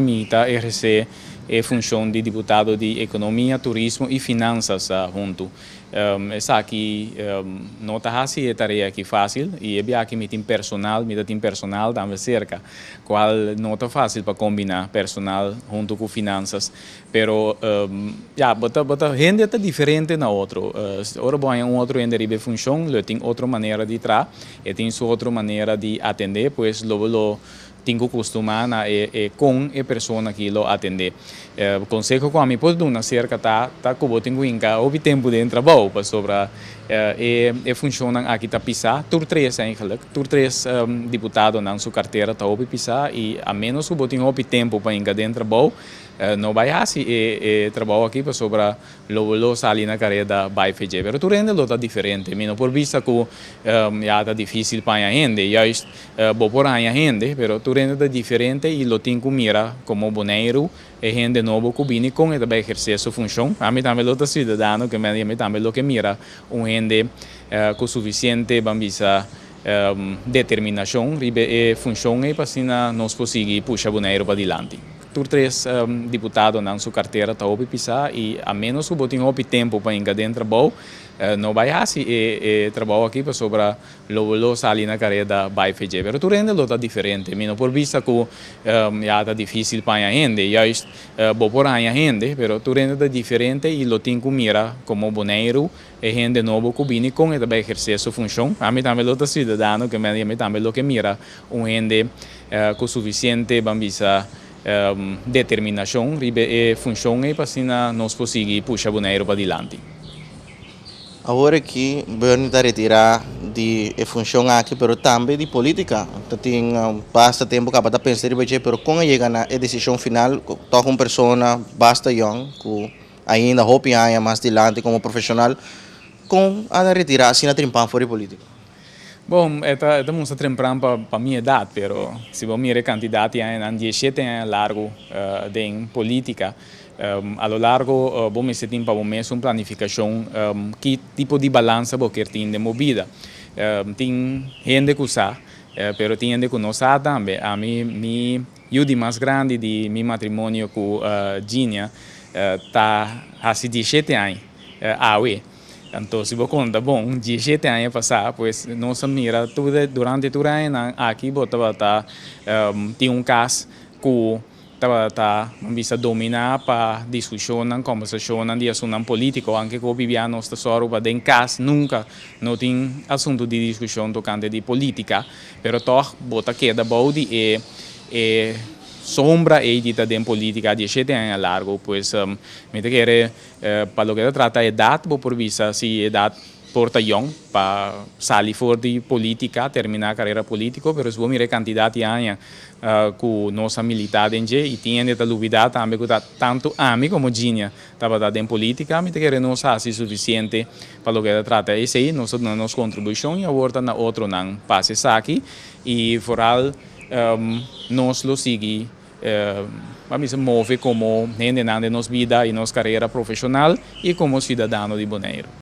Mi ta ehersé e funshon di diputado di Ekonomia, Turismo i Finansas huntu. Esaki no ta hasi e tarea aki fásil i e biaha ki mi tin personal, mi ta tin personal tambe serka, kual no ta fásil pa kombiná personal huntu ku finansas. Pero, ya, bo ta, bo ta, hende ta diferente na otro. Ora bo haña un otro hende riba e funshon, lo e tin otro manera di traha, e tin su otro manera di atendé, pues lo bo lo Tin cu custuma na e con e persona aki lo atende. Conseho cu ami por duna acerca ta, ta cu bo tin cu hinca hopi tempo den trabou, pasobra e funcionnan aki ta pisa tur tres eigenlijk, tur tres diputadonan su cartera ta hopi pisa y a menos cu bo tin hopi tempo pa hinca den trabou, no bay haci e trabou aki pasobra lo bo lo sali na careda bay feje. Pero tur hende lo ta diferente. Mi no por bisa cu ya ta dificil paña hende, juist Bo por haña hende, pero tur hende ta diferente y lo tin cu mira como Boneiru, e hende nobo cu bini con e ta bay eherce su funcion. Ami tambe lo ta ciudadano que mende y ami tambe lo ke mira un hende cu suficiente ban bisa determinacion riba e funcion ey pa asina nos por sigui pusha Boneiru padilanti. Tur tres diputadonan su cartera ta hopi pisa y a menos cu bo tin hopi tempo pa hinca den trabao no bay haci e trabao aki pasobra Lo bo lo sali na careda bay feje. Pero tur hende lo ta diferente. Mi no por bisa cu ya ta dificil paña hende. Juist, bo por haña hende, pero tur hende ta diferente y lo tin cu mira como Boneiru, e hende nobo cu bini con e ta bay eherce su funcion. Ami tambe lo ta ciudadano cu mende y ami tambe lo ke mira un hende cu suficiente ban bisa determinacion riba e funcion ey pa asina nos por sigui pusha Boneiru padilanti. Awor aki Bernie ta retirá di e funshon aki pero tambe di polítika. Ta tin basta tempu kaba ta pensa riba dje pero kon a yega na e desishon final tòg un persona basta yòn ku ainda hopi aña mas dilanti komo profeshonal kon a retirá asina trimpa for di polítika? Bon, e ta musta trempran pa mi edat, pero si bo mira e cantidad di añanan, diesiete aña largu den politica, a lo largo bo mester tin pa bo mes un planificacion ki tipo di balanza bo kier tin den bo bida. Tin hende cu sa, pero tin hende cu no sa tambe. Ami, mi yu di mas grandi di mi matrimonio cu Ginia ta haci diesiete aña awe. Anto si bo konta bon, diesshete aña pasá pues nos a mira tur e, durante tur e añanan aki bo tabata tin un kas ku tabata nan bisa dominá pa diskushonnan, kòmbersashonnan di asunnan polítiko. Anke ku hopi bia nos ta sòru pa den kas nunka no tin asuntu di diskushon tokante di polítika, pero tòg bo ta keda bou di e e sombra ei di ta den polítika diesshete aña largu. Pues mi ta kere. Pa loke ta trata edat, bo por bisa si e edat por ta yòn pa sali for di polítika, terminá karera polítiko. Pero si bo mira e kantidad di aña ku nos a militá den dje i tin hende ta lubidá tambe ku ta tantu ami komo Ginia tabata den polítika, mi ta kere nos hasi sufisiente pa loke ta trata esei. Nos ta duna nos kontribushon i awor ta na otronan pa hasi esaki i foral nos lo sigui. pa mester move komo hendenan den nos bida i nos karera profeshonal i komo siudadano di Boneiru.